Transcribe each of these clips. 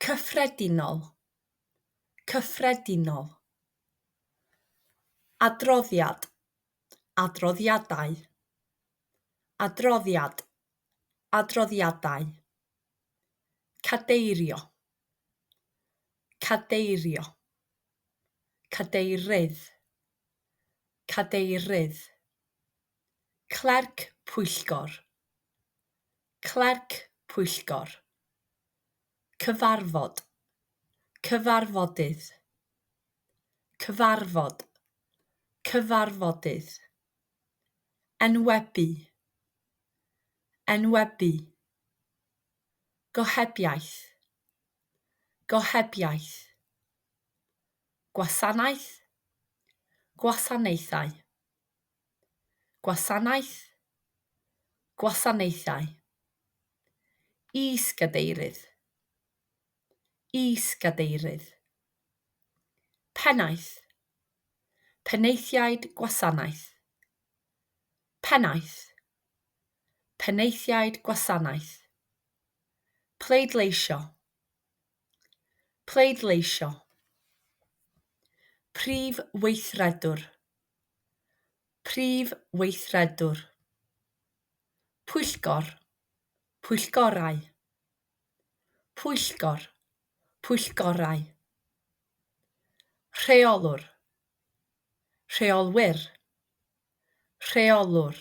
Cyffredinol, cyffredinol. Adroddiad, adroddiadau. Adroddiad, adroddiadau. Cadeirio, cadeirio. Cadeirydd, cadeirydd. Clerc pwyllgor, Clerc Pwyllgor. Cyfarfod. Cyfarfodydd. Cyfarfod. Cyfarfodydd. Enwebu. Enwebu. Gohebiaeth. Gohebiaeth. Gwasanaeth. Gwasanaethau. Gwasanaeth, Gwasanaethau. Is-gadeirydd, Is-gadeirydd. Pennaeth, Penaethiaid Gwasanaeth. Pennaeth, Penaethiaid Gwasanaeth. Pleidleisio, Pleidleisio. Prif Weithredwr, Prif Weithredwr, Pwyllgor, Pwyllgorau, Pwyllgor, Pwyllgorau, Rheolwr, Rheolwyr, Rheolwr,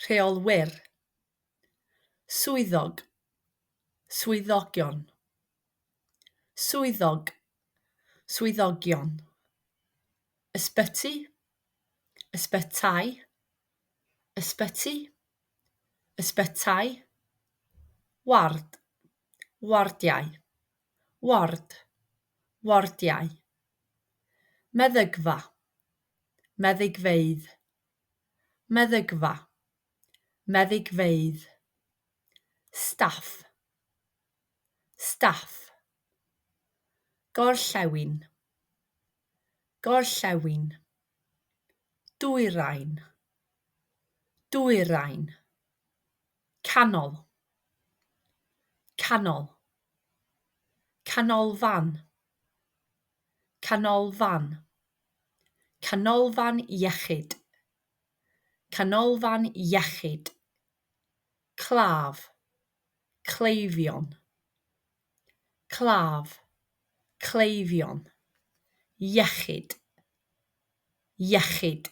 Rheolwyr, Swyddog, Swyddogion. Swyddog, swyddogion. Ysbyty, ysbytai. Ysbyty, ysbytai. Ward, wardiau. Ward, wardiau. Meddygfa, meddygfeydd. Meddygfa, meddygfeydd. Staff. staff gorllewin gorllewin dwyrain dwyrain canol canol canolfan canolfan canolfan iechyd canolfan iechyd claf cleifion claf cleifion iechyd iechyd